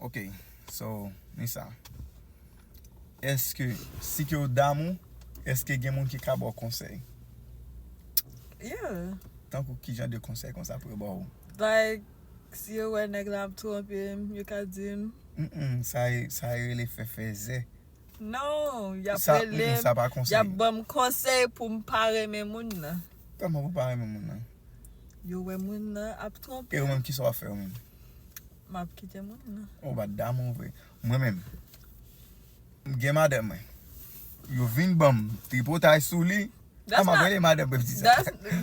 Ok so Nisa eske si ke ou damou eske gen moun ki ka baw konsèy? Yeah. Tankou kijan de konsèy konsa pou yo baw? Like si yo wè nèg la ap twonpem yo ka dim. Humm sa e sa e rele fè fèzè. Non yap relem Sa pa konsèy. yap banm konsèy poum pa renmen moun nan. Kòman pou pa renmen moun nan? Yo wè moun nan ap twonpem. E ou menm kisa wap fè ou menm? Map kite moun nan. Ou bat damou vre. Mwen menm. M gen madanm mwen. Yo vin banm tripotay sou li. A map rele madanm mwen m di sa.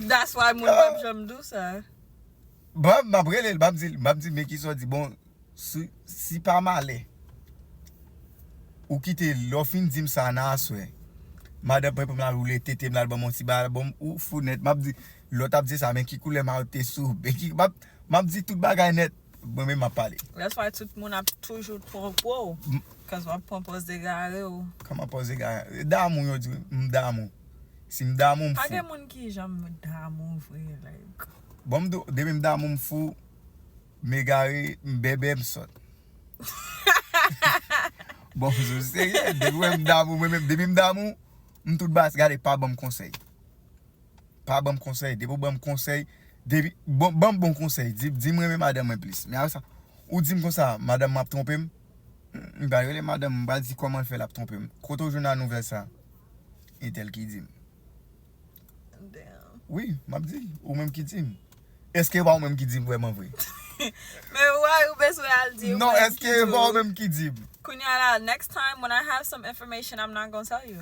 That's why moun pap janm di w sa. Bon map rele l map di l map di men kisa w di bon si pa malè ou kite l lè w fin di m sa nan aswè madanm mwen pou m la roule tete m la banm yon ti ba bon ou fou nèt map di lè w tap di sa men ki koulè mayo te sou ou. Map di tout bagay net mwen menm map pale. That's why tout moun ap toujou pran pou w cause wap pran pòz egare w. Kòman pòz egare? Damou yo di m damou. Si m damou m fou. Pa gen moun ki janm damou vre like. Bon m di w depi m damou m fou, m egare, m bèbè, m sòt. Bon m sou serye depi w wè m damou mwen menm depi m damou m tout baz gade pa banm konsèy. Pa banm konsèy depi ou banm konsèy depi bon banm bon konsèy di dim renmen madanm mwen plis men apresa ou dim konsa madanm mwen ap twonpem m pral rele madanm mwen m pral di kòman l fè l ap twonpem kote ou jwenn a nouvèl sa entèl ki dim wi map di ou menm ki dim èske e pa ou menm ki dim vrèman vre men wòy ou bezwen al di non èske e pa ou menm ki dim kounya la next time when i have some information i'm not gonna tell you.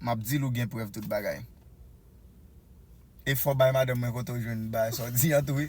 Map dil ou gen prèv tout bagay. Efò bay madanm mwen kote ou jwenn bagay sa w di an tou wi.